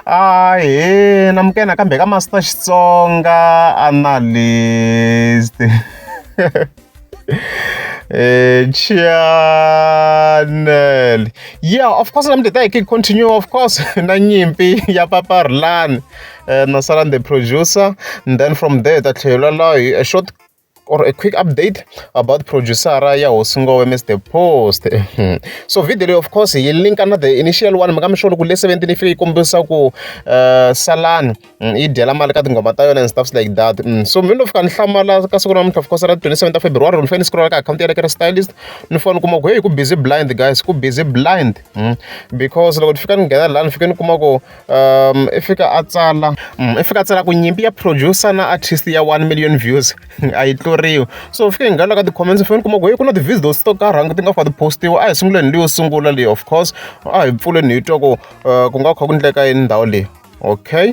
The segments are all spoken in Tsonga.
Ahee namukela nakambe ka Master Xitsonga Analyst Eh, channel yeah of course namde ta hi ki continue of course na nyimpi ya papa rulani eh, na sala the producer and then from there ta tlhela lahi a short or a quick update about producer ya hosi ngowe mr post so video leyi of course yi linka na the initial one maka mi swona ku le 17 yi fike yi kombisa ku uh, salani mm, yi dyela mali ka tinghoma ta yona and stuffs like that mm, so mi no fika ni hlamala ka siku namuntlha of course ra 27 ta february ni fanele ni scrolla ka akhawunti ya lekere stylist ni fanele kuma ku heyi ku busy blind guys ku busy blind mm, because loko ni fika ni nghena laha ni fike ni kuma ku um i fika a tsala mm, i fika a tsala ku nyimpi ya producer na artist ya 1 million views a yi tluriwi so u fike hi nghana ka ti-comments fane kuma ku heyi ku na ti-views those to karhangi ti nga fa ti-postiwa a hi sunguleni leyo sungula leyi of course a hi pfuleni hi twa ku uh, ku nga kha ku ndleka yini ndhawu leyi okay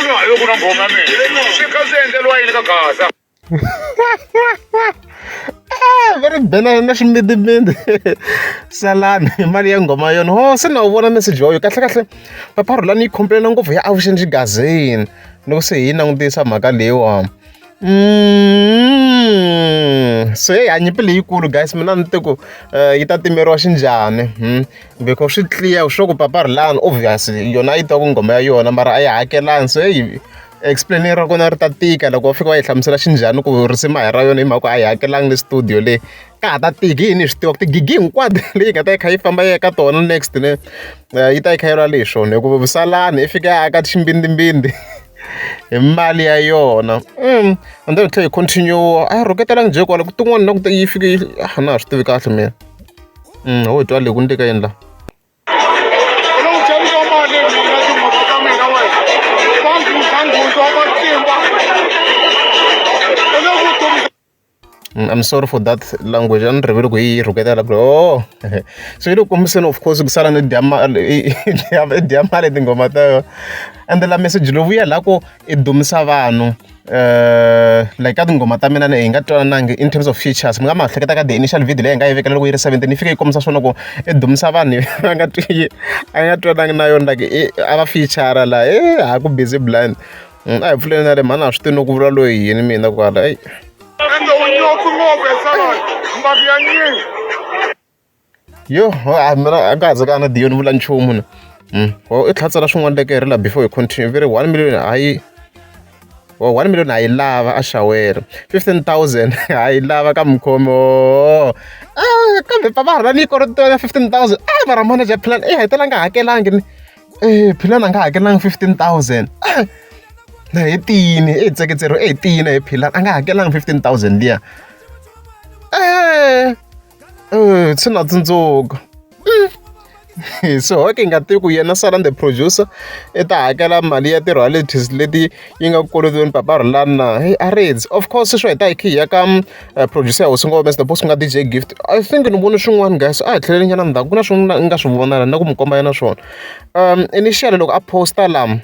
hayo ku na nghoma mina swi kha swi endleriwa yini ka gaza ah, va ri bela na ximbidimbindi salani hi mali ya nghoma yona ho se na wu vona message yoyo kahlekahle papa rhulani yi khompelena ngopfu ya avuxeni xigazini loko se hi yi langutisa mhaka leyiwani se hi hanya mpilo leyikulu guys mina ni te ku eh, yi ta timeriwa xinjhani hmm? beko swi clear swo ku papa rilani obvious yona yi twa ku nghoma ya yona mara a yi hakelani se yi explain ra kona ri ta tika loko wa fika wa yi hlamusela xinjhani ku risima hi ra yona hi mhaka a yi hakelanga le studio le ka ha ta tiki yini swi tiva ku tigigi hinkwato leyi nga ta yi kha yi famba yi ya ka tona next ne eh, yi ta yi kha yi lwa lexona hikuva vusalani i fika ya aka ximbindzimbindzi hi mali ya yona and then hi tlhela hi continue-a a rhuketela njhe kwala ku tin'wana na ku yi fike yi a na ha swi tivi kahle mina ho hi twa le ku ni teka yini laha Thank you. I'm sorry for that language a ni rivele ku yi rhuketela ku oo so yi le ku kombiseni of course ku sala ni dya mali i dya mali hi tinghoma ta yona ende la meseji lowu wu ya laha ku i dumisa vanhu um like ka tinghoma ta mina hi nga twanananga in terms of features mi nga ma hleketa ka the initial video leyi hi nga yi vekela loko yi ri seventeen yi fike yi kombisa swona ku i dumisa vanhu va nga twi a nga twanangi na yona like a va feature laha e ha ku busy blind. Mm, a hi pfuleni na le mhani a swi tivi no ku vula loyi yini mina kwala eyi yo a mina a nga ha ze ka na diyo ni vula nchumu na Mm, o i tlhatsela swin'wana leke hi ri la before hi continue vi ri one million a yi o one million a yi lava a xawela fifteen thousand a yi lava ka mukhomi o a kambe papa ha ri va ni yi kolotela fifteen thousand a va ra manager plan i hetelanga hakelangi ni philani a nga hakelanga fifteen thousand na hi tiyini i hi tseketseriwe i hi tiyini hi philani a nga hakelanga fifteen thousand liya e swi na tsundzuka so hoke hi nga tivi ku yena salan the producer i ta hakela mali ya ti-royalties leti yi nga kolotiweni papa rhulani na a reads of course swi swa hi ta hi khe hi ya ka producer ya hosi ngo humesa the boss ku nga DJ gift I think ni vone swin'wana guys a hi tlheleli nyana ndzhaku ku na swin'wana ni nga swi vona la na ku mi komba yena swona um initial loko a posta lama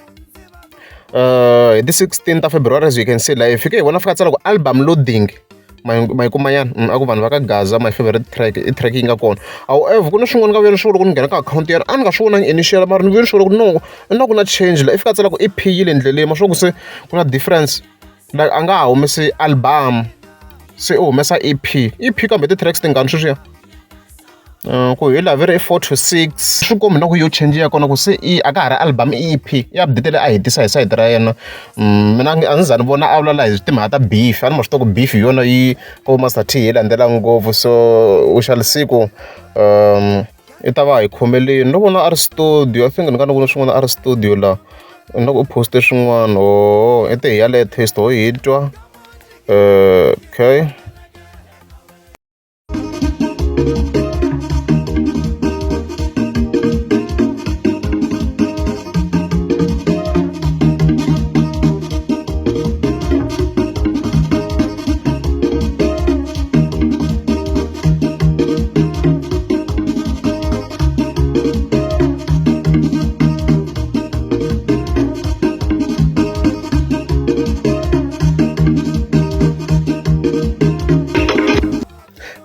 uh hi ti 16 ta february as you can see la hi fike hi vona fika tsala ku album loading mayikumanyana mm, a ku vanhu va ka gaza my favorite track i track yi nga kona however ku na swin'wana ka vuyelo swi vula ku ni nghena ka akhawunti yena a ni nga swi vonangi initial mara ni vuyelo swi vula ku no na ku na change la i fika tsala ku i phiyile endleleni ma swa ku se ku na difference like a nga ha humesi album se u humesa ep ep kambe ti-tracks tingani sweswiya Uh, ku hi laveri i four to six swi kombi na ku yo change ya kona ku se i a ka ha ri album e ep i update leyi a hetisa hi sayiti ra yena mm, mina a ndzi za ni vona a vulavula hi timhaka ta beef a ni ma swi tiva ku beef hi yona yi ko master t yi landzela ngopfu so u xalisiku um i ta va hi khomeleni no vona a ri studio i think ni nga ni vona swin'wana a ri studio la na ku u poste swin'wana o i te hi yaleyo taste ho hi twa eh, okay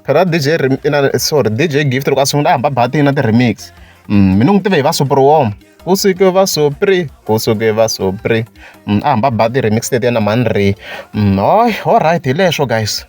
phela dj Rem- na sorry dj gift loko a sungula a hamba bathini na ti-remix Mm, mina n'wi tive hi va sopriwom ku suke va sopri ku suke va sopri Mm, a hamba ba ti-remix letiya na manri hoy all right hi leswo guys